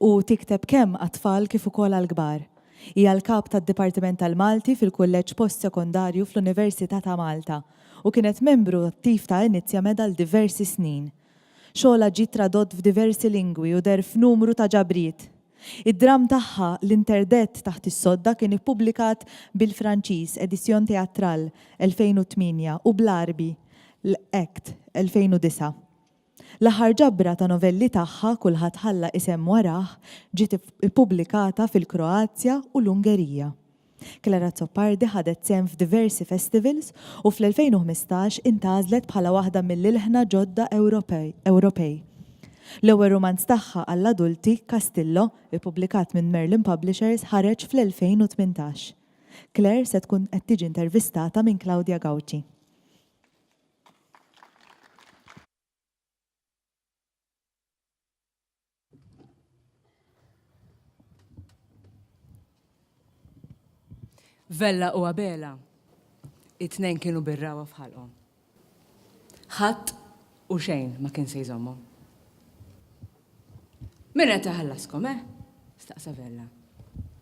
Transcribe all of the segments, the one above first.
u tikteb kemm għat-tfal kif ukoll għall-kbar. Hija l-Kap tad-Dipartiment tal-Malti fil-Kulleġġ Post-Sekondarju fl-Università ta' Malta u kienet membru attiv ta' Inizjamed għal diversi snin. Xogħolha ġie tradott f'diversi lingwi u deher f'numru ta' ġabriet. Id-dramm tagħha L'Interdett taħt is-sodda kien ippubblikat bil-Franċiż, Editions Théâtrales, 2008, u bl-Għarbi, L. Ect. 2009. L-aħħar ġabra ta' novelli tagħha, Kulħadd Ħalla Isem Warah, ġiet ippubblikata fil-Kroazja u l-Ungerija. Clara Azzopardi ħadet sehem f'diversi festivals u fl-2015 intgħażlet bħala waħda mill-ilħna ġodda Ewropej. L-ewwel rumanz tagħha għall-adulti, Castillo, ippubblikat minn Merlin Publishers ħareġ fl-2018. Claire se tkun qed tiġi intervistata minn Claudia Gauci. Vella u Abela, it-tnejn kienu birrawa f'ħalqhom. Ħadd u xejn ma kien se jżommhom. Min qed iħallaskom, eh? Staqsa Vella.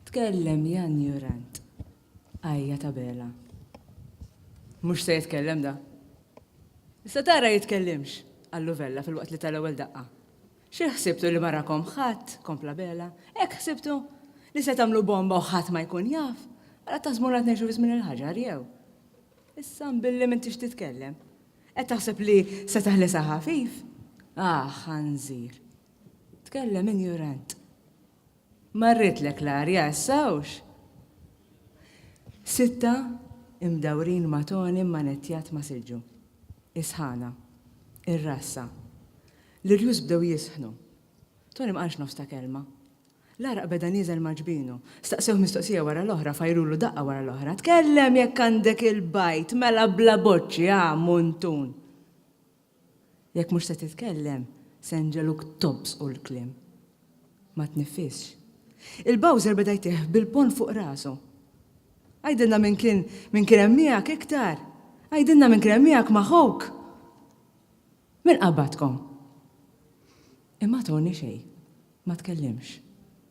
Tkellem Jan Jurant. Ajja tabela. Mhux se jitkellem da. Issa tara jitkellimx, qallu Vella filwaqt li ta l-ewwel daqqa. Xi ħsibtu li ma rakom ħadd, kompla Bela, hekk ħsibtu? Li se tagħmlu bomba u ħadd ma jkun jaf? Ara taħsbu ngħad ngħixu fi żmien il-ħaġar jew? Issa mbilli m'intix titkellem. Qed taħseb li se teħlisha ħafif? Ah, ħanżir. Tkellem injurant. Marritlek l-arja issa hawnx! Sitta imdawrin ma' toni mmanettjat ma' silġu. Is-sħana. Ir-rassa. L-irjus bdew jisħnu. Toni ma qalx nofs ta' kelma. L-għaraq beda nieżel ma' ġbinu. Staqsewh mistoqsija wara l-oħra, fajrulu daqqa wara l-oħra. Tkellem jekk għandek il-bajd, mela bla boċċi, ha, muntun! Jekk mhux se titkellem, se nġegħluk tobżqu l-kliem. Ma tniffisx. Il-Bowser beda jtih bil-ponn fuq rasu. Għidilna min kien min kien hemm miegħek iktar! Għidilna min kien hemm miegħek ma' ħuk! Min qabbadkom? Imma Tony xejn. Ma tkellimx.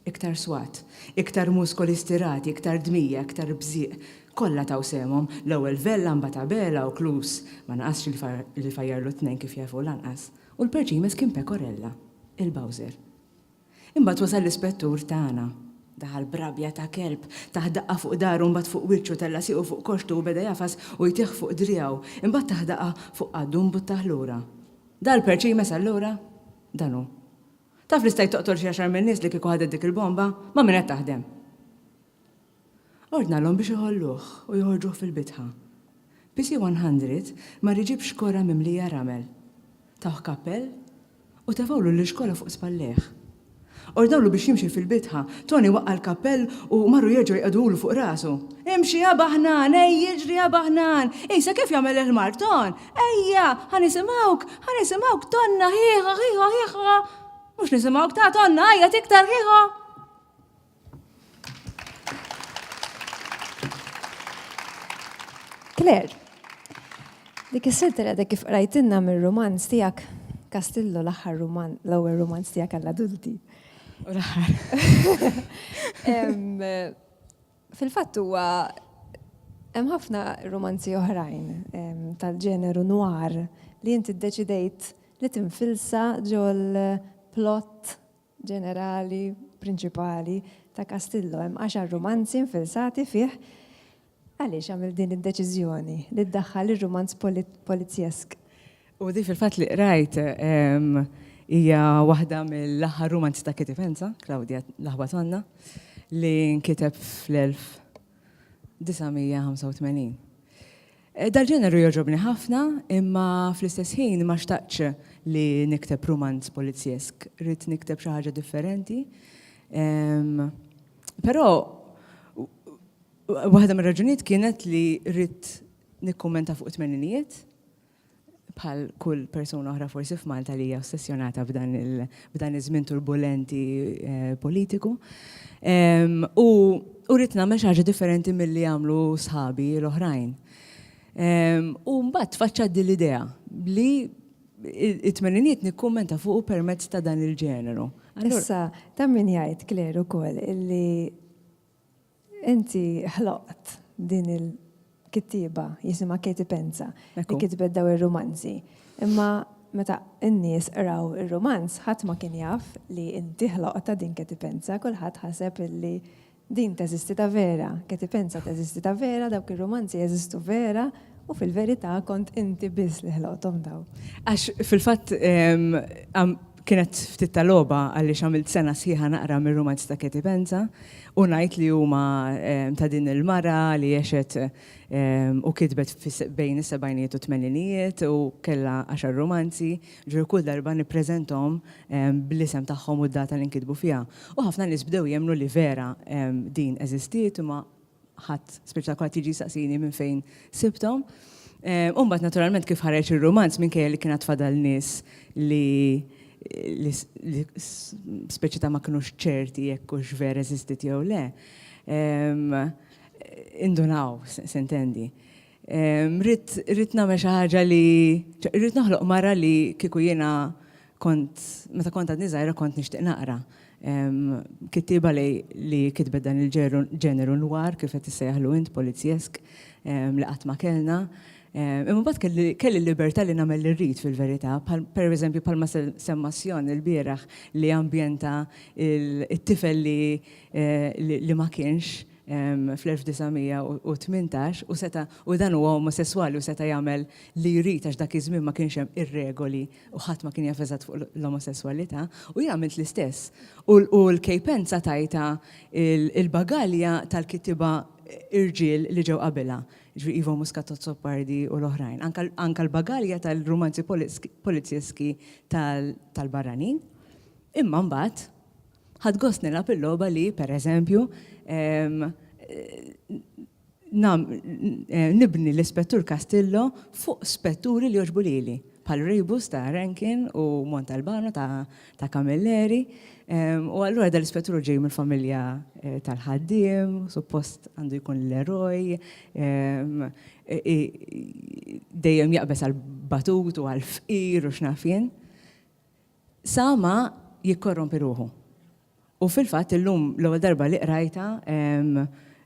Iktar swat. Iktar muskoli stirati, iktar dmija, iktar bżieq. Kollha taw sehemhom. L-ewwel Vella, mbagħad Abela u Klus. Ma naqasx li fajjarlu t-tnejn kif jaf hu lanqas. U l-perċ li jmiss kien Pecorella, il-Bowser. Imbagħad wasal l-Ispettur tagħna. Daħal b'rabja ta' kelb. Tah daqqa fuq dahru, mbagħad fuq wiċċu, tella' siequ fuq koxxtu u beda jagħfas u jtih fuq driegħu. Imbagħad tah daqqa fuq qaddu u mbuttah lura. Dal-perċ li jmiss allura dan hu. Taf li stajt toqtol xi għaxar min-nies li kieku ħadet dik il-bomba? Ma' min qed taħdem? Ordnalhom biex iħolluh u joħorġuh fil-bitħa. PC 100 mar iġib xkora mimlija ramel. Tawh kappell u tefgħulu l-xkora fuq spallejh. Ordnawlu biex jimxi fil-bitħa, Toni waqqa' l-kappell u marru jerġgħu jqegħduhulu fuq rasu. Imxi, abaħnan, ejja, iġri, abaħnan! Qisha kif jagħmel il-ħmar, Ton! Ejja, ħa nisimgħuk, ħa nisimgħuk tonna ħieħa, ħieħa, ħieħa. Mhux nisimgħuk ta' tonna għajjat iktar ħieħa. Claire, dik is-sitt li kif qrajtinna mir-rumanz tiegħek Kastillo l-aħħar ruman, l-ewwel rumanz tiegħek għall-adulti. U l-aħħar. Fil-fatt huwa hemm ħafna rumanzi oħrajn tal-ġeneru noir li inti ddeċidejt li tinfilsa ġol plot ġenerali prinċipali ta' Castillo. Hemm għaxar rumanzi nfilsati fih. Għaliex għamilt din id-deċiżjoni li ddaħħal ir-rumanz polizjesk? U di fil-fatt li qrajt hija waħda mill-aħħar rumanzi ta' Kitty Fenza, Claudia l-Aħwa Tonna, li nkiteb fl-1985. Dal-ġeneru jogħġobni ħafna, imma fl-istess ħin ma xtaqtx li nikteb rumanz polizzjesk, ridt nikteb xi ħaġa differenti. Però waħda mir-raġunijiet kienet li ridt nikkummenta fuq it-tmeninijiet, bħal kull persuna oħra forsi f'Malta li hija ossessjonata b'dan iż-żmien turbulenti eh, politiku. Ehm, u u rrit nagħmel xi ħaġa differenti milli jagħmlu sħabi l-oħrajn. Ehm, u mbagħad tfaċċa din l-idea li it-tmeniniet nikkummenta fuq permezz ta' dan il-ġeneru. Issa, ta' min jgħid Kleru ukoll illi Inti ħloqt din il-kittieba jisimha Katie Penza li kitbet dawn ir-rumanzi. Imma meta n-nies qraw ir-rumanz ħadd ma kien jaf li inti ħloqtha din Katie Penza, kulħadd ħaseb illi din teżisti ta' vera, Katie Penza teżisti ta' vera, dawk ir-rumanzi jeżistu vera. U fil-verità kont inti biss li ħloqthom dawn. Għax fil-fatt kienet ftit ta' logħba għaliex għamilt sena sħiħa naqra mir-rumanzi ta' Katie Penza u ngħid li huma ta' din il-mara li għexet u kitbet bejn is-sebgħinijiet u t-tmeninijiet u kellha għaxar rumanzi, ġifieri kull darba nippreżenthom bl-isem tagħhom u d-data li nkitbu fiha. U ħafna nies bdew jemmnu li vera din eżistiet imma ħadd speċjalment jiġi jsaqsini minn fejn sibthom. U mbagħad naturalment kif ħareġ ir-rumanz minkejja li kien għad fadal nies li speċi ta' ma kinux ċerti jekk hux vera eżistiet jew le, indunaw, se intendi. Rrid nagħmel xi ħaġa li rrid noħloq mara li kieku jiena kont meta kont għadni żgħira kont nixtieq naqra. Kittieba li kitbet dan il-ġeneru nwar kif qed issejjaħlu int polizjesk li qatt ma kellna. Imma mbagħad kelli l-libertà li nagħmel li rrid fil-verità, pereżempju bħalma semma Sjon ilbieraħ li ambjenta t-tifel li ma kienx. fl-1918 u seta' u dan huwa omosesswali u seta' jagħmel li jrid għax dak iż-żmien ma kienx hemm ir-regoli u ħadd ma kien jaf eżatt fuq l-omosesswalità u jien għamilt l-istess. U l-kejpenza tajtha il-bagalja tal-kittieba irġiel li ġew qabilha, jiġifieri Ivo Muscat Azzopardi u l-oħrajn. Anke l-bagalja tal-rumanzi polizjeski tal-barranin. Imma mbagħad, Ħadt gost nilgħab il-logħba li, per eżempju, nibni l-Ispettur Castillo fuq spetturi li jogħġbu lili, bħal Rebus ta' Rankin u Montalbano ta' Camilleri. U allura dan l-Ispettur ġej mill-familja tal-ħaddiem, suppost għandu jkun l-eroj, dejjem jaqbeż għall-batut u għall-fqir u x'naf jien. Sa ma jikkorrompi ruħu. U fil-fatt illum l-ewwel darba li qrajtha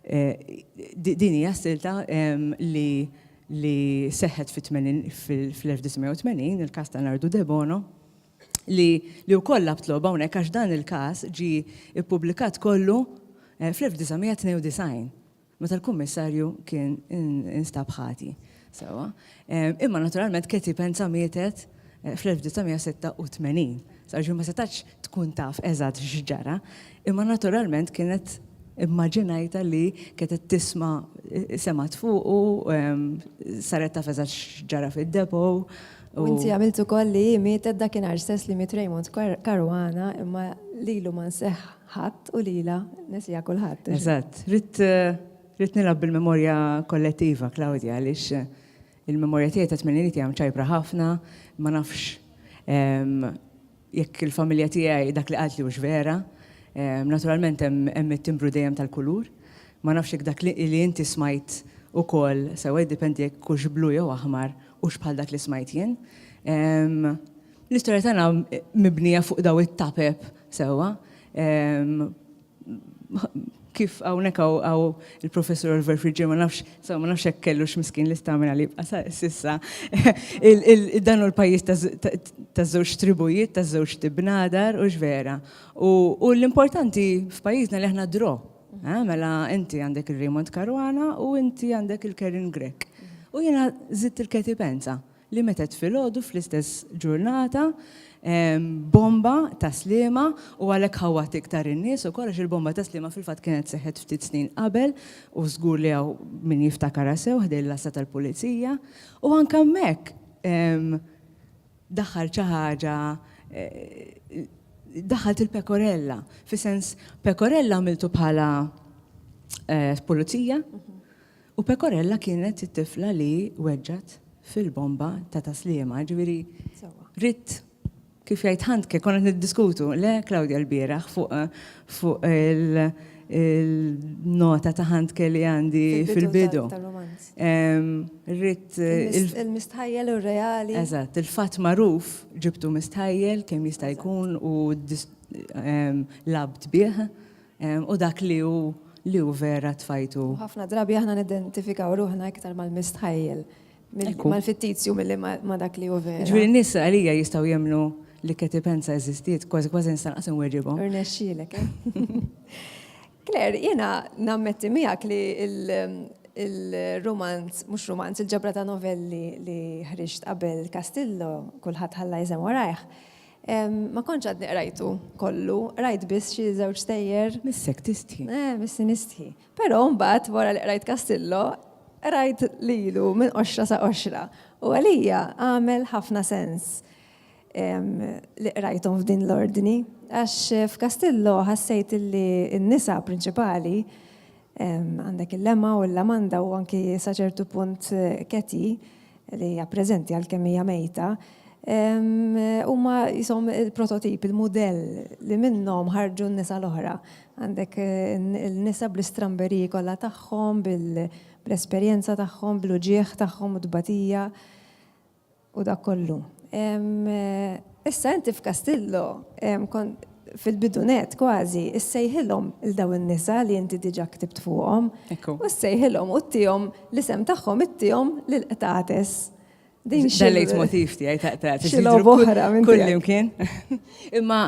din hija silta li li seħħet fl-1980, il-każ ta' Nardu Debono, li li wkoll lagħabt logħba hawnhekk għax dan il-każ ġie ppubblikat kollu fl-1992. meta l-Kummissarju kien instab ħati. Sewwa. Imma naturalment Katie Penza mietet fl-1986. Sewwa, ġifieri ma setgħetx tkun taf eżatt x'ġara, imma naturalment kienet immaġinajtha li kienet qed tisma' semgħet fuqu, saret taf eżatt x'ġara fid-depot u. U inti għamilt ukoll li hi mietet dakinhar stess li miet Raymond Caruana imma lilu ma nseħħ. Ħadd u lilha nesiha kulħadd. Eżatt. Ridt ridt nilgħab bil-memorja kollettiva, Claudia, għaliex il-memorja tiegħi ta' tmeniniet hija mċajpra ħafna, ma nafx jekk il-familja tiegħi dak li qaltli hux vera. Naturalment hemm it-timbru dejjem tal-kulur. Ma nafx jekk dak li inti smajt ukoll sewwa jiddependi jekk hux blu jew aħmar hux bħal dak li smajt jien. L-istorja tagħna mibnija fuq dawn it-tapep sewwa. Kif hawnhekk hawn il-Professur Oliver Friġġier ma nafx, sew ma nafx hekk kellux miskin l-istamina li jibqa' s'issa. Dan hu l-pajjiż taż-żewġ tribujiet, taż-żewġ tibnadar, hux vera? U l-importanti f'pajjiżna li aħna draw. Mela inti għandek il-Raymond Caruana u inti għandek il-Karen Grech. U jiena żidt il-Katie Penza. li metgħet filgħodu fl-istess ġurnata bomba ta' sliema u għalhekk ħawwat iktar in-nies ukoll għax il-bomba ta' sliema fil-fatt kienet seħħet ftit snin qabel u żgur li hawn min jiftakarha sew ħdejn l-għassa tal-pulizija u anke hemmhekk daħħal xi ħaġa daħħalt il-pekorella fi sens pekorella għamiltu bħala pulizija U Pecorella kienet it-tifla li weġġgħet fil-bomba ta' Ta' Sliema, jiġifieri ridt kif jgħid Handke, konna qed niddiskutu, le Claudia lbieraħ fuq il-nota ta' Handke li għandi fil-bidu. Ridt il- Il-mistħajjel u r-reali. Eżatt, il-fatt magħruf ġibtu mistħajjel kemm jista' jkun u lgħabt bih. u dak li hu li hu vera tfajtu. U ħafna drabi aħna nidentifikaw ruħna iktar mal-mistħajjel, mal-fittizju milli ma' dak li hu vera. Jiġifieri n-nies għalija jistgħu jemmnu li Katie Pensa eżistiet, kważi kważi nista' lanqas inwerriebhom. Irnexxielek, eh? Claire, jiena nammetti miegħek li l-rumanz, mhux rumanz, il-ġabra ta' novelli li ħriġt qabel Castillo, Kulħadd Ħalla Iżem Warajh, Ma kontx għadni qrajtu kollu, qrajt biss xi żewġ stejjer. Missek tistħi. Eh, missi nistħi. Però mbagħad wara li qrajt Castillo, qrajt lilu minn qoxra sa qoxra u għalija għamel ħafna sens li qrajthom f'din l-ordni għax f'Castillo ħassejt li n-nisa prinċipali għandek il-lema u l-lamanda u anki sa ċertu punt keti li hija preżenti għalkemm hija mejta, huma qishom il-prototip, il-mudell li minnhom ħarġu n-nisa l-oħra. Għandek il-nisa bl-istramberiji kollha tagħhom, bl-esperjenza tagħhom, bl-uġigħ tagħhom u t-tbatija u dak kollu. Issa inti f'Kastillo fil-bidu nett kważi, issejħilhom lil dawn in-nisa li inti diġà ktibt fuqhom, u ssejħilhom u ttihom l-isem tagħhom ittihom lill-qtates. Din xi. Dal-lejtmotiv tiegħi ta' qtates. Xi logħba oħra minn kull imkien. Imma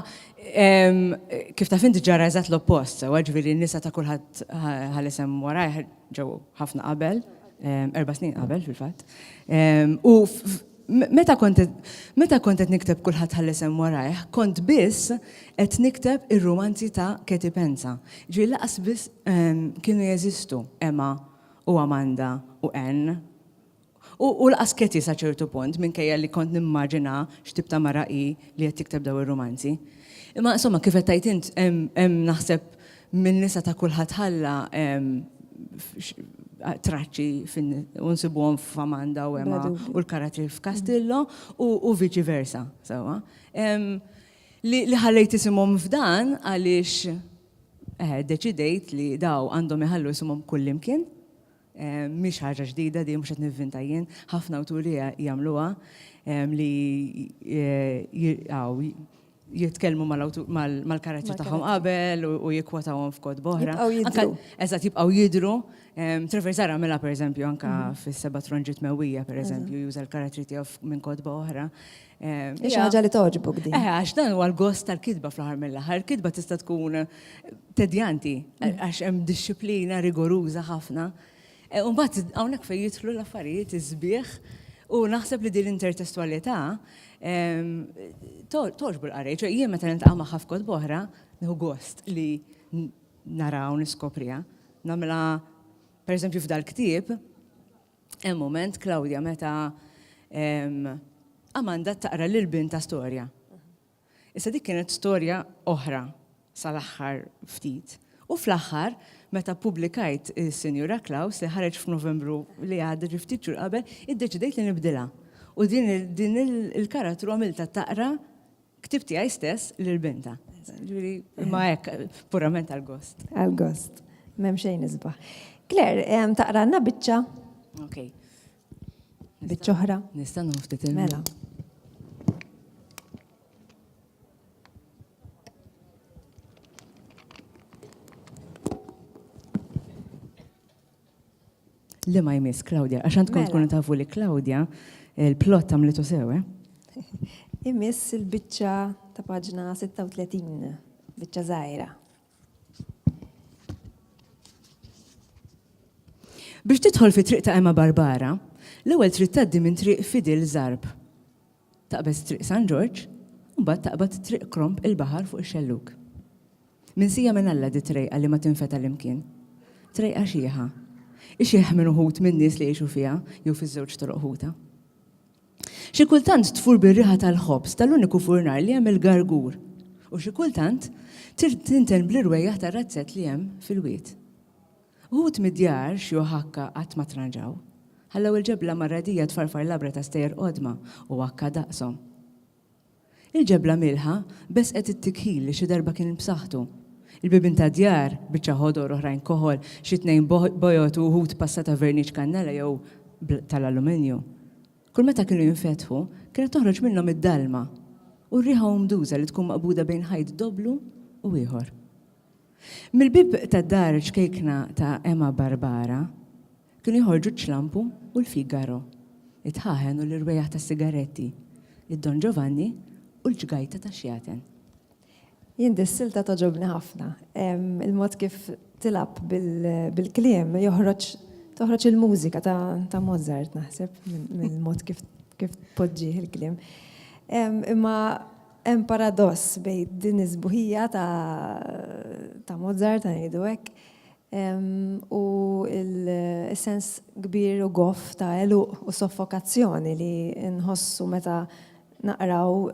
kif taf inti ġara eżatt l-oppost, sewwa ġifieri n-nisa ta' kulħadd ħa l-isem warajh ġew ħafna qabel, erba' snin qabel fil-fatt. U Meta kont meta kont qed nikteb Kulħadd ħalla isem warajh, kont biss qed nikteb ir-rumanzi ta' Katie Penza. Ġifieri lanqas biss kienu jeżistu Emma u Amanda u Anne. U lanqas Katie sa ċertu punt, minkejja li kont nimmaġina x'tip ta' mara hi li qed tikteb dawn ir-rumanzi. Imma insomma, kif qed tgħid int, hemm naħseb Min-nisa ta' kulħadd ħalla traċċi u nsibuhom f'Amanda u Emma u l-karattri f'Castillo u viċi versa, sewwa. Li ħallejt isimhom f'dan għaliex deċidejt li daw għandhom iħallu isimhom kullimkien. Mhix ħaġa ġdida din, mhux qed nivvinta jien, ħafna awturi jagħmluha li jitkellmu mal-karattri tagħhom qabel u jikkwotawhom f'kod boħra. Eżatt, jibqgħu jidhru. Trevor Zara għamilha pereżempju anke fis-Seba' Tronġiet Mewwija, pereżempju, juża l-karattri tiegħu minn kotba oħra. Xi ħaġa li togħġbok din. Eh, għax dan huwa l-gost tal-kitba fl-aħħar mill-aħħar. Kitba tista' tkun tedjanti mm. għax hemm dixxiplina rigoruża ħafna. Eh, u mbagħad hawnhekk fejn jidħlu l-affarijiet iż-żbieħ u naħseb li din l-intertestwalità ehm, toġbu l-qarej, ċe jien meta niltaqa' magħha f'kod boħra, nieħu gost li naraw niskoprija. Namla, per eżempju, f'dal-ktieb, Hemm mument, Claudia, meta Amanda taqra lil bintha storja. Issa dik kienet storja oħra sal-aħħar ftit. U fl-aħħar, meta ppubblikajt is-Sinjura Klaus li ħareġ f'Novembru li għadda ġi ftit xhur qabel, iddeċidejt li nibdilha. U din il-karattru għamiltha taqra Ktieb tiegħi stess lil bintha. Ġifieri, imma hekk, purament għall-gost. Għall-gost. M'hemm xejn isbaħ. Claire, ehm, taqralna biċċa? Ok. Biċċa oħra? Nista' nħoftit il Mela. Le ma jmiss Claudia, għax għandkom mela. tkunu tafu li Claudia il-plot għamlitu sew, eh? Imiss il-biċċa ta' paġna 36, biċċa żgħira. Biex tidħol fi triq ta' Emma Barbara, l-ewwel trid tgħaddi minn triq Fidil Zarb. Taqbeż Triq San Ġorġ u mbagħad taqbad Triq Kromb il-Baħar fuq ix-xellug. Minsija minn Alla di trejqa li ma tinfeta l-imkien. Trejqa xiħa. Ixieħ minn uħud min-nies li jgħixu fiha jew fiż-żewġ toroq ħuta. Xi kultant tfur bir-riħa tal-ħobż tal-uniku furnar li hemm il-Gargur u xi kultant tinten bl-irwejjaħ tar-razzett li hemm fil-wied. Uħud mid-djar, xi uħakka qatt ma tranġaw. Ħallew il-ġebla marradija tfarfar labra ta' stejjer qodma u uħakka daqshom. Il-ġebla mielħa bessqet it-tikħil li xi darba kien b'saħħtu. Il-bibien tad-djar, biċċa ħodor oħrajn koħol, xi tnejn bojod u uħud passa ta' verniċ kannella jew tal-alluminju. Kull meta kienu jinfetħu, kienet toħroġ minnhom id-dalma u r-riħa umduża li tkun maqbuda bejn ħajt dobblu u ieħor. Mill-bieb tad-dar ċkejkna ta' Ema Barbara kienu joħorġu ċ-Ċlampu u l-Figaro, it-tħaħen u l-irwejjaħ tas-sigaretti, id-Don Ġovanni u l-ġgajta tax-xjaten. Jien dis-silta togħġobni ħafna. Il-mod kif tilgħab bil-kliem joħroġ toħroġ il-mużika ta' Mozart naħseb mill-mod kif tpoġġih il-kliem. Imma Hemm paradoss bejn din is-sbuħija ta' ta' Mozart, ngħidu hekk, u l-sens kbir u goff ta' għeluq u soffokazzjoni li nħossu meta naqraw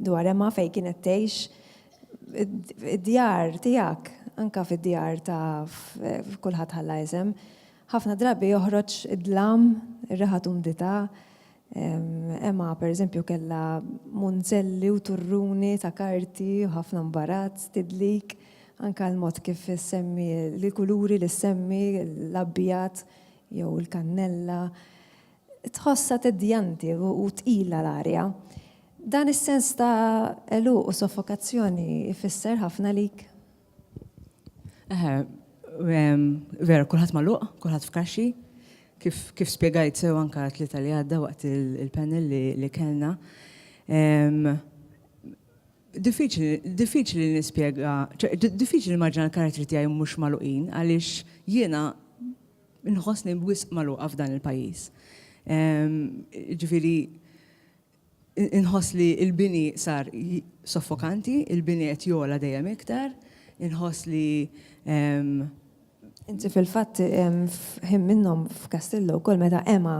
dwar Emma fejn kienet tgħix id-djar tiegħek, anke fid-djar ta' kulħadd ħalla isem, ħafna drabi joħroġ id-dlam, ir-riħa t'umdità, Emma, pereżempju, kellha munzelli u turruni ta' karti u ħafna mbarazz, tidlik, anke l-mod kif issemmi l-kuluri li ssemmi, l-abjad jew il-kannella. Tħossha teddjanti u tqila l-arja. Dan is-sens ta' għeluq u soffokazzjoni jfisser ħafna għalik? Eħe, vera, kulħadd magħluq, kulħadd f'kaxxi, kif, kif spjegajt sew anka tlieta li għadda waqt il-panel li, li kellna. Diffiċli nispjega, diffiċli nimmaġina l-karattri tiegħi mhux magħluqin għaliex jiena nħossni wisq magħluqa f'dan il-pajjiż. Ġifieri, Inħoss li l-bini sar soffokanti, il-bini qed jogħla dejjem iktar, inħoss li hemm. Inti fil-fatt f'ħin minnhom f'Castillo wkoll meta Emma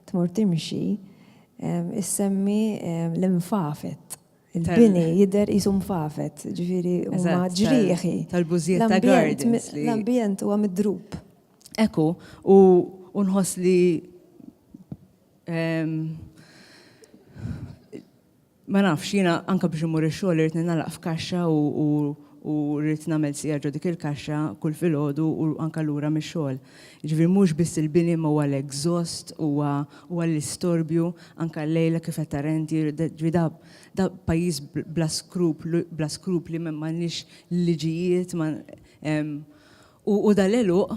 tmur timxi issemmi l-infafet. Il-bini jidher qisu mfafet, jiġifieri huma ġrieħi. Tal-bużijiet ta' gardens. L-ambjent huwa midrub. Hekk hu, u nħoss li Ma nafx, jiena anke biex immur ix-xogħol irid ningħalaq f'kaxxa u rrid nagħmel siegħa ġo dik il-kaxxa kull filgħodu u anke lura mix-xogħol. Jiġifieri mhux biss il-bini imma huwa l-exhaust, huwa huwa l-istorbju, anke llejla kif qed tara inti, ġifieri da da pajjiż bla skruplu bla skrupli m'għandniex liġijiet ma U u dan l-għeluq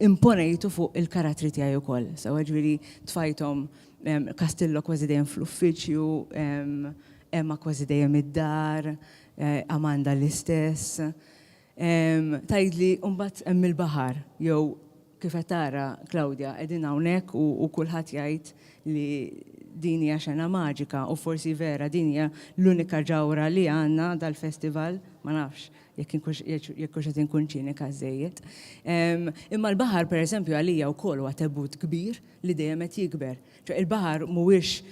imponejtu fuq il-karattri tiegħi wkoll. Sewwa jiġifieri tfajthom Castillo kważi dejjem fl-uffiċċju, Emma kważi dejjem id-dar, Amanda l-istess. Tgħidli mbagħad hemm il-baħar jew kif qed tara Claudia qegħdin hawnhekk u u kulħadd jgħid li din hija xena maġika u forsi vera din hija l-unika ġawhra li għandna dal-festival, ma nafx, jekk inkunx jekk hux qed inkun ċinika żżejjed. Imma l-baħar pereżempju għalija wkoll huwa tebut kbir li dejjem qed jikber. Ġo il-baħar mhuwiex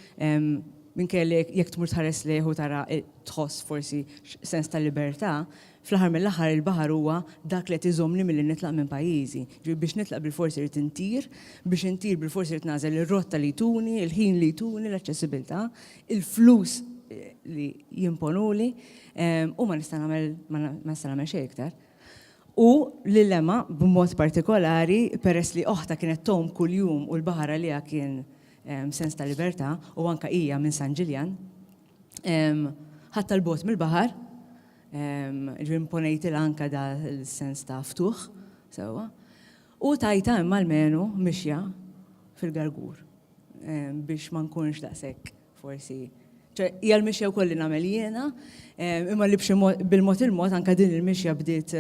minkejja li jekk tmur tħares lejh u tara tħoss forsi sens ta' libertà, fl-aħħar mill-aħħar il-baħar huwa dak li qed iżommni milli nitlaq minn pajjiżi. Ġifieri biex nitlaq bilfors irid intir, biex intir bilfors irid nagħżel ir-rotta li jtuni, il-ħin li jtuni, l-aċċessibilità, il-flus li jimponuli, U ma nista' nagħmel ma nista' nagħmel xejn iktar. U lil Emma b'mod partikolari peress li oħta kienet tgħum kuljum u l-baħar għaliha kien sens ta' libertà u anke hija minn San Ġiljan, ħadtha 'l bogħod mill-baħar, ġifieri imponejtilha anke da l-sens ta' ftuħ sewwa, u tajtha Emma l-menu mixja fil-gargur biex ma nkunx daqshekk forsi, ċe hija l-mixja wkoll li nagħmel jiena, imma li b'xi mod bil-mod il-mod anke din il-mixja bdiet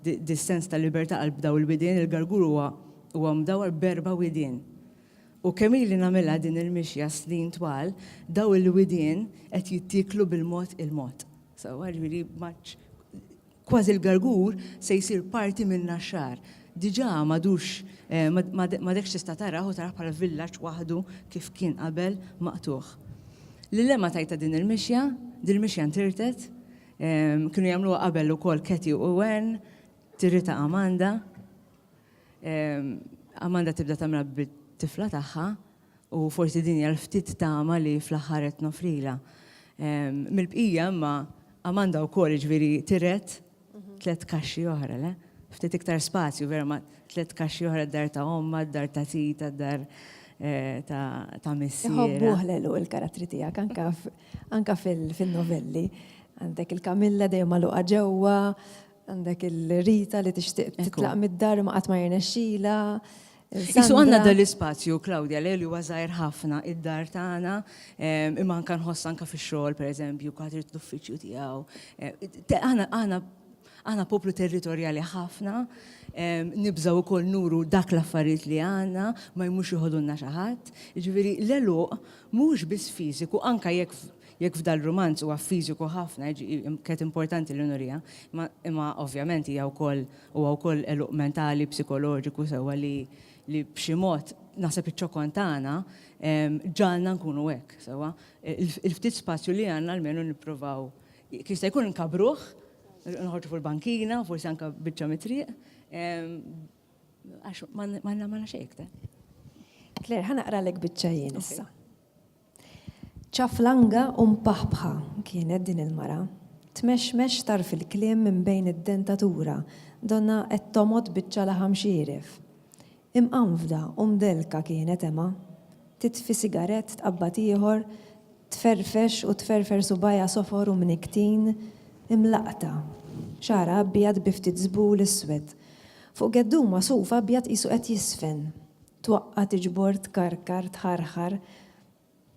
dis-sens ta' libertà għal b'daw il-widien, il-gargur huwa huwa mdawwar b'erba' widien. U kemm ili nagħmilha din il-mixja snin twal, daw il-widien qed jittieklu bil-mod il-mod. Sewwa, jiġifieri matx Kważi l-gargur se jsir parti min-Naxxar. Diġà m'għadux m'għadekx tista' tarah u tarah bħala villaġġ waħdu kif kien qabel maqtugħ. Lil Emma tajtha din il-mixja, dil-mixja ntirtet, kienu jagħmluha qabel ukoll Katie u Ann, tiritha Amanda. Amanda tibda tagħmilha bit-tifla tagħha, u forsi din hija l-ftit tama li fl-aħħar qed noffrilha. Mill-bqija imma Amanda wkoll jiġifieri tiret tliet kaxxi oħra, le? Ftit iktar spazju vera ma' tliet kaxxi oħra d-dar ta' ommha, d-dar ta' tita, d-dar ta' missierha. Iħobbuh Lelu l-karattri tiegħek anke anke fin-novelli. Għandek il-Camilla dejjem magħluqa ġewwa, għandek il-Rita li tixtieq titlaq mid-dar imma qatt ma jirnexxilha, Isu għandna dan l-ispazju, Claudia, li huwa żgħir ħafna, id-dar tagħna, ehm, imma anke nħoss anke fix-xogħol pereżempju, kulħadd irid l-uffiċċju tiegħu. Eh, aħna aħna aħna poplu territorjali ħafna, ehm, nibżaw ukoll nuru dak l-affarijiet li għandna, ma jmux joħodulna xi ħadd. Ġifieri l-eluq mhux biss fiżiku, anke jekk jekk f'dal rumanz huwa fiżiku ħafna, kienet importanti l-unurija, imma ovvjament hija wkoll Huwa wkoll għeluq mentali, psikoloġiku sewwa li li b'xi mod, naħseb iċ-ċokon tagħna ġagħalna nkunu hekk, sewwa. Il-ftit spazju li għandna almenu nipprovaw jekk jista' jkun inkabbruh, noħorġu fuq il-bankina, forsi anke biċċa mit-triq, għax ma għandna xejn iktar. Claire, ħa naqralek biċċa jien issa. Ċaflanga u mpaħbħa kienet din il-mara. Tmexmex tarf il-kliem minn bejn id-dentatura, donnha qed tomgħod biċċa laħam xieref. Imqanfda u mdellka kienet Emma. Titfi sigarett, tqabbad ieħor, tferrfex u tferrfer subgħajha sofor u mnikktin, imlaqqta. Xagħarha abjad bi ftit żbul iswed. Fuq geddum magħsuf abjad qisu qed jiżfen. twaqqa' tiġbor tkarkar tħarħar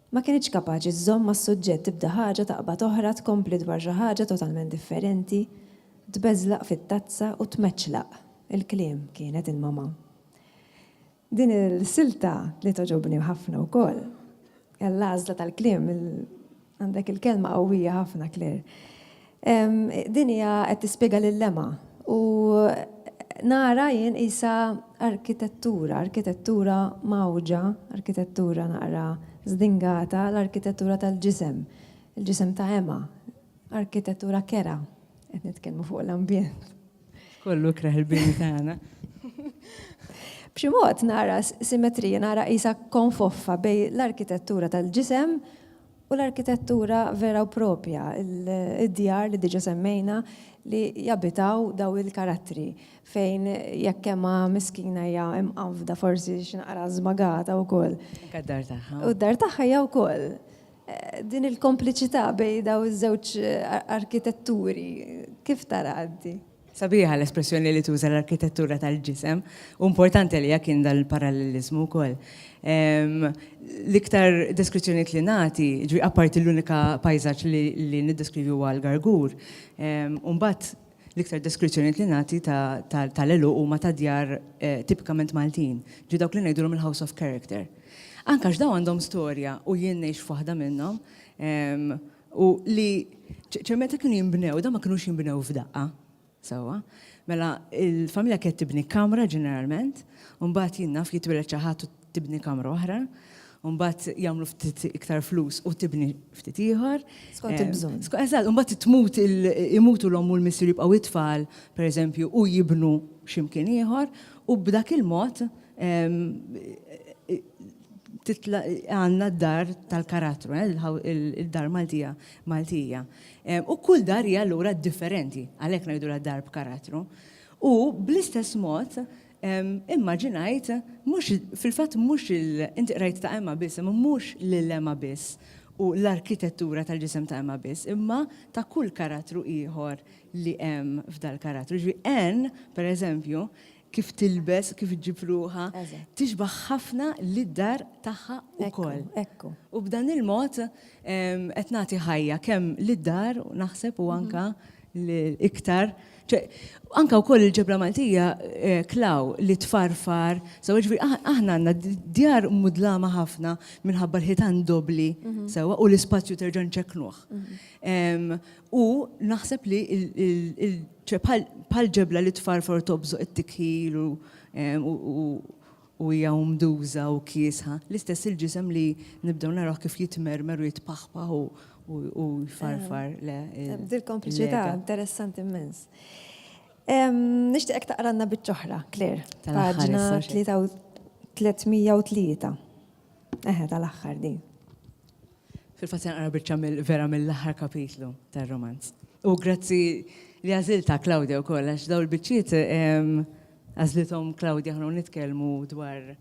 Ma kinitx kapaċi żżomm mas-suġġett tibda ħaġa taqbad oħra tkompli dwar xi ħaġa totalment differenti tbeżlaq fit-tazza u tmeċċlaq il-kliem kienet il-mamà Din il-silta li togħġobni ħafna wkoll. Għall-għażla tal-kliem, għandek il-kelma qawwija ħafna, Claire. Din hija qed tispjega lil Emma u nara jien qisha arkitettura, arkitettura mgħawġa, arkitettura naqra żdingata, l-arkitettura tal-ġisem, il-ġisem ta' Emma, arkitettura kerha, qed nitkellmu fuq l-ambjent. Kollu kreħ il-bini tagħna. B'xi mod nara simetrija, nara qisha konfoffa bej l-arkitettura tal-ġisem u l-arkitettura vera u propja, id-djar li diġa semmejna li jabitaw daw il-karattri fejn jekk hemm miskina hija imqanfda forsi xi naqra żmagata wkoll. Anke d-dar tagħha. U d-dar tagħha hija wkoll. Din il-kompliċità bejn dawn iż-żewġ arkitetturi, kif taraha inti? Sabiħa l-espressjoni li tuża l-arkitettura tal-ġisem, u importanti għalija kien dan il-paralleliżmu wkoll. L-iktar deskrizzjonijiet li nagħti, ġifieri apparti l-unika pajżaġġ li niddeskrivi huwa l-Gargur, u mbagħad L-iktar deskrizzjonijiet li nagħti tal-għeluq huma ta' djar tipikament Maltin, ġifieri dawk li ngħidulhom il-house of character. Anke għax dawn għandhom storja u jien ngħix f'waħda minnhom u li ċe meta kienu jinbnew, dawn ma kinux jinbnew f'daqqa. Sewwa? Mela il-familja kienet tibni kamra ġeneralment, u mbagħad jien naf jitwieled xi ħadd tibni kamra oħra, u mbagħad jagħmlu ftit iktar flus u tibni ftit ieħor. Skont il-bżonn. Eżatt, u mbagħad tmut imutu l-omm u l-missier jibqgħu t-tfal, pereżempju, u jibnu x'imkien ieħor, u b'dak il-mod għandna d-dar tal-karattru, id-dar Maltija Maltija. U kull dar hija allura differenti, għalhekk ngħidulha dar b'karattru. U bl-istess mod, Immaġinajt, mhux, fil-fatt mhux il, inti qrajt ta' Emma biss, imma mhux lil Emma biss u l-arkitettura tal-ġisem ta' Emma biss, imma ta' kull karattru ieħor li hemm f'dal-karattru. Jiġifieri Anne, pereżempju, kif tilbes, kif ġġib ruħha, tixbah ħafna lid-dar tagħha wkoll. U b'dan il-mod qed nagħti ħajja kemm lid-dar, naħseb, u anke iktar Ċe, anka wkoll il-ġebra Maltija eh, klaw li tfarfar, sewa ġifieri ah- aħna għandna d- djar mudlama ħafna minħabba l-ħitan dobbli sewa u l-ispazju terġa' nċekknuh. Em, U naħseb li il- il- il- ċe, bħal bħal ġebla li tfarfar u tobżoq it-tikħil u em, u- u- u hija umduża u kiesħa, l-istess il-ġisem li nibdew narawh kif jitmermer u jitpaħpaħ u u jfarfar le. Dil kompliċità interessanti immens. Nixtieqek taqranna biċċoħra, Claire. Paġna 303. Eħe, tal-aħħar din. Fil-fatt se naqra biċċa vera mill-aħħar kapitlu tar-romanz. U grazzi li għażilta Claudia wkoll għax dawn il-biċċiet ehm, għażlithom Claudia ħnu nitkellmu dwar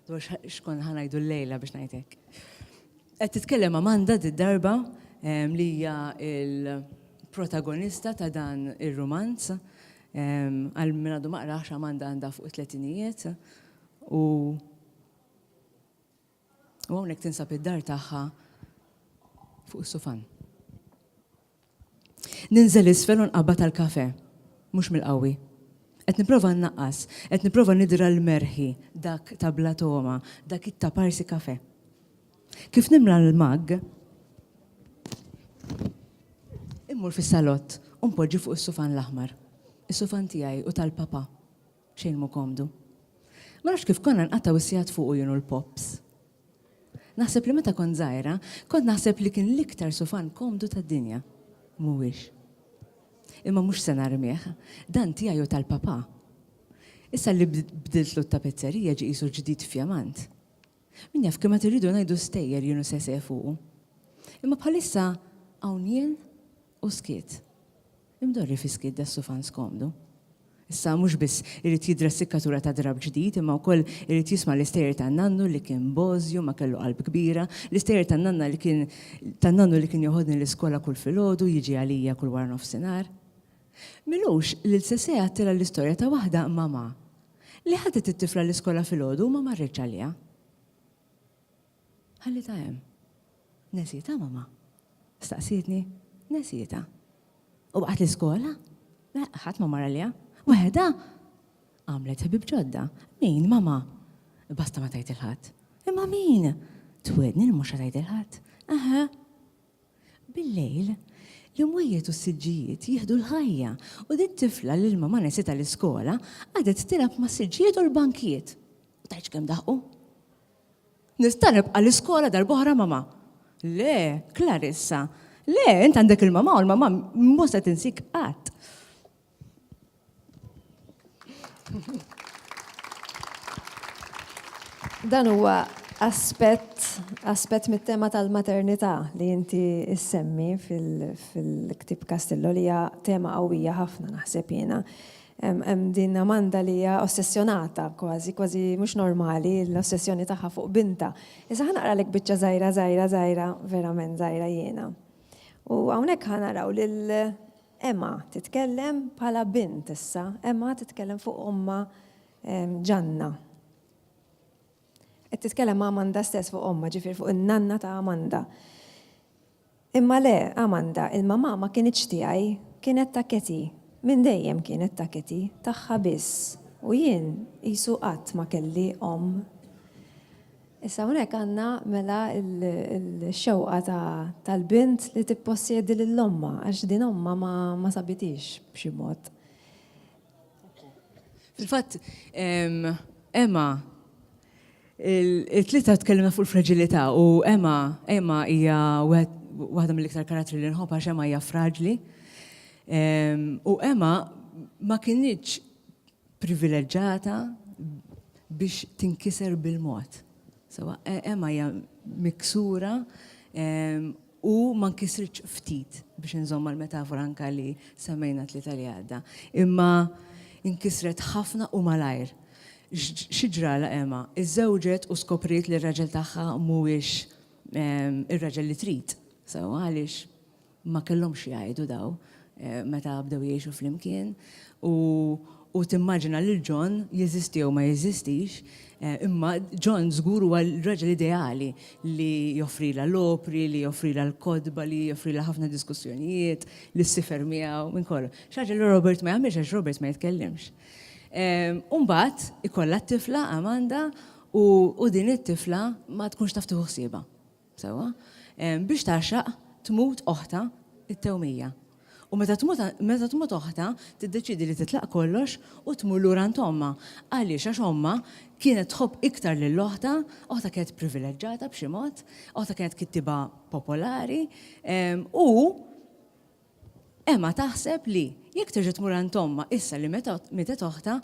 dwar xkun ħanajdu l-lejla biex ngħidlek. Qed titkellem Amanda d-darba ehm, li hija il-protagonista ta' dan ir-romanz ehm, għal min għadu maqrax Amanda għandha fuq it-tletinijiet u U hawnhekk tinsab id-dar tagħha fuq is-sufan. Ninżel isfel u nqabad għal kafe. Mhux mill-qawwi. Qed nipprova nnaqqas, qed nipprova nidra l-merħi, dak ta' bla togħma, dak it-ta' parsi kafe. Kif nimla l-mug, immur fis-salott u npoġġi fuq is-sufan l-aħmar. Is-sufan tiegħi u tal-papa. Xejn mhu komdu. Ma nafx kif konna nqattgħu s-sigħat fuqu jien u l-Pops. Naħseb li meta kont żgħira, kont naħseb li kien l-iktar sufan komdu tad-dinja. Mhuwiex. Imma mhux se narmih. Dan tiegħi u tal-papà. Issa li bdiltlu t-tapezzerija ġie qisu ġdid fjamant. Min jaf kemm għad irridu ngħidu stejjer jien u Sese fuqu. Imma bħalissa hawn jien U skiet. Imdorri fi skiet das-sufan skomdu. Issa mhux biss irid jidra s-sikkatura ta' drapp ġdid imma wkoll irid jisma' l-istejjer ta' nannu li kien bożju ma kellu qalb kbira, l-istejjer ta' nanna li kien ta' nannu li kien joħodni l-iskola kull filgħodu u jiġi għalija kull waranofsinhar. Milux lil Sesè għattilha l-istorja ta' waħda, Mamà, li ħadet it-tifla l-iskola filgħodu u ma marritx għaliha. Ħallitha hemm. Nesietha mamma? staqsietni. Nesietha. U baqgħet l-iskola? Le, ħadd ma mar għaliha. Waħedha? Għamlet ħbieb ġodda. Min, mamma? Basta ma tgħid 'il ħadd. Imma min? Twiegħdni li mhux se tgħid 'il ħadd. Eħe. Bil-lejl, l-imwejjed u s-siġġijiet jieħdu l-ħajja u din tifla li l-mamma nesietha l-iskola qagħdet tilgħab mas-siġġijiet u l-bankijiet. U tgħidx kemm daħqu. Nista' nibqa' l-iskola darb'oħra mamà? Le, Clarissa. Le, int għandek il-mamà u l-mamà mhu se tinsik qatt. Dan huwa aspett aspett mit-tema tal-maternità li inti issemmi fil-ktieb Castillo li hija tema qawwija ħafna naħseb jiena. Hemm din Amanda li hija ossessjonata kważi, kważi mhux normali l-ossessjoni tagħha fuq bintha. Issa ħa naqralek biċċa żgħira, żgħira, żgħira, verament żgħira jiena. U hawnhekk ħa naraw lil Emma titkellem bħala bint issa, Emma titkellem fuq ommha Ġanna. Qed titkellem ma' Amanda stess fuq ommha, ġifier fuq in-nanna ta' Amanda. Imma le, Amanda, il-mamà ma kinitx tiegħi, kienet ta' Katie. Minn dejjem kienet ta' Katie, tagħha biss. U jien qisu qatt ma kelli omm. Issa hawnhekk għandna mela l-xewqa tal-bint li tippossjedi lil ommha għax din ommha ma sabithiex b'xi mod. Fil-fatt, Emma, Il-tlieta tkellimna fuq il-fraġilità u Emma, Emma hija waħda mill-iktar karattri li nħobb għax Emma hija fraġli. U Emma ma kinitx privileġġata biex tinkiser bil-mod. Sewa, Emma hija miksura u ma nkisritx ftit, biex inżomm mal-metafora anke li semmejna t-Tlieta li għadda, imma nkisret ħafna u malajr. Xi ġralha Emma? Iżżewġet u skopriet li r-raġel tagħha mhuwiex ir-raġel li trid. Sewwa għaliex ma kellhomx x'jgħidu dawn. meta bdew jgħixu flimkien, u u timmaġina lil John, jeżisti jew ma jeżistix, imma John żgur huwa l-raġel ideali li joffrilha l-opri, li joffrilha l-kotba, li joffrilha ħafna diskussjonijiet, li ssifer miegħu, minn kollox. Xi ħaġa li Robert ma jagħmilx għax Robert ma jitkellimx. U mbagħad ikollha t-tifla Amanda u u din it-tifla ma tkunx taf tieħu ħsiebha. Sewwa, biex tagħxaq, tmut oħtha, it-tewmija. U meta tmut, meta tmut oħtha, tiddeċiedi li titlaq kollox u tmur lura għand ommha. Għaliex? Għax ommha kienet tħobb iktar lil oħtha, oħtha kienet privileġġata b'xi mod, oħtha kienet kittieba popolari, u Emma taħseb li jekk terġa' tmur għand ommha issa li meta mietet oħtha,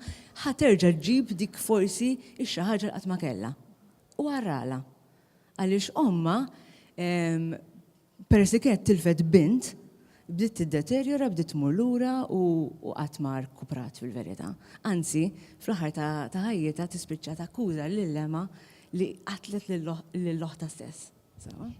ħa terġa' ġġib dik forsi x-xi ħaġa li qatt ma kellha. U aralha. Għaliex ommha, peress li kienet tilfet bint, bdiet tiddeterjora, bdiet tmur lura u qatt ma rkuprat fil-verità. Anzi, fl-aħħar ta' ħajjitha tispiċċa takkuża lil emmha li qatlet lil oħtha stess.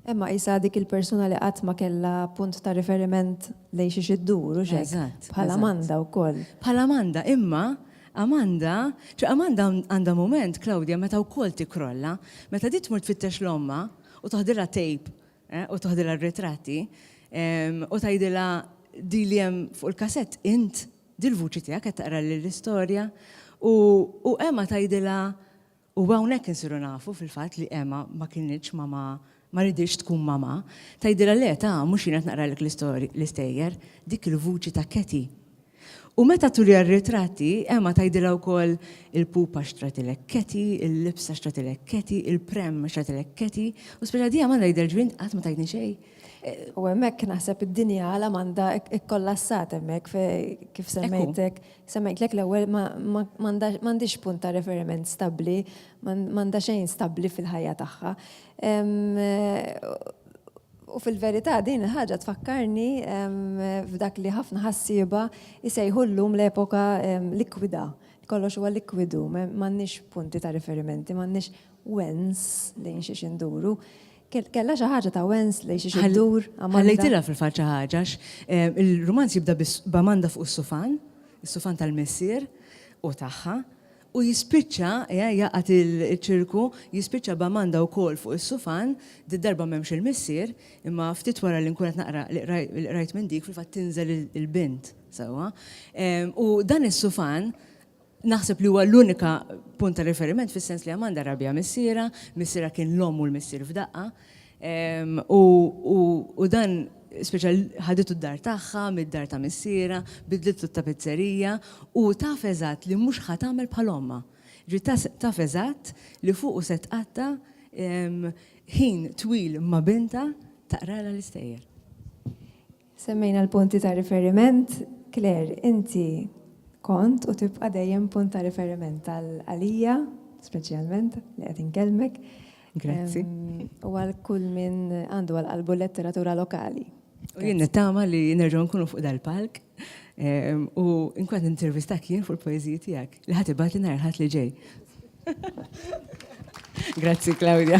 Emma qisha dik il-persuna li qatt ma kellha punt ta' riferiment lejn xiex iddur, hux hekk? Bħal Amanda wkoll. Bħal Amanda, imma Amanda, ċe Amanda għandha mument, Claudia, meta wkoll tikkrolla. Meta di tmur tfittex 'l ommha u toħdilha tape u toħdilha r-ritratti u tgħidilha di li hemm fuq il-kasett int, di l-vuċi tiegħek qed taqrali l-istorja u Emma tgħidilha U hawnhekk insiru nafu fil-fatt li Emma ma kinitx mamà, ma riditx tkun mamà. Tgħidilha le, ta, mhux jien qed naqralek l-istejjer, dik il-vuċi ta' Katie. U meta turiha r-ritratti, Emma tgħidilha wkoll, il-pupa xtratilek Katie, il-libsa xtratilek Katie, il-pram xtratilek Katie, u speċa dejjem għandha jidher ġvien int qatt ma tajtni xejn. U hemmhekk naħseb id-dinja għala m'għandha kkollassat hemmhekk kif semmejt hekk Se ngħidlek l-ewwel ma għandhiex punt ta' referiment stabbli, m'għandha xejn stabbli fil-ħajja tagħha. U fil-verità din il-ħaġa tfakkarni f'dak li ħafna ħassieba jsejħu llum l-epoka likwida. Kollox huwa likwidu, m'għandniex punti ta' riferimenti, m'għandniex wens lejn xiex induru. Kellha xi ħaġa ta' Wensley xi xi dur Amanda. Ħallejtilha fil-fatt xi ħaġa għax il-rumanz jibda b'Amanda fuq is-sufan, is-sufan tal-missier u tagħha, u jispiċċa, jaqgħad iċ-ċirku, jispiċċa b'Amanda wkoll fuq is-sufan, did-darba m'hemmx il-missier, imma ftit wara li nkun qed naqra li qrajt minn dik fil-fatt tinżel il-bint sewwa. U dan is-sufan Naħseb li huwa l-unika punt ta' riferiment fis-sens li Amanda rabbiha missierha, missierha kien l-omm u l-missier f'daqqa. U dan speċa ħaditu d-dar tagħha mid-dar ta' missierha, bidlitlu t-tapizzerija u taf eżatt li mhux ħa tagħmel bħal ommha. Ġifieri ta' taf eżatt li fuqu se tqatta' ħin twil ma' bintha taqralha l-istejjer. Semmejna l-punti ta' riferiment. Claire, inti kont u tibqa' dejjem punt ta' riferiment għalija, speċjalment, li qed inkellmek. Grazzi. U għal kull min għandu għal qalbu l-letteratura lokali. U jien nittama li nerġgħu nkunu fuq dal-palk u nkun qed nintervistak jien fuq il-poeżiji tiegħek li ħa tibgħatli nhar il-Ħadd li ġej. Grazzi, Claudia.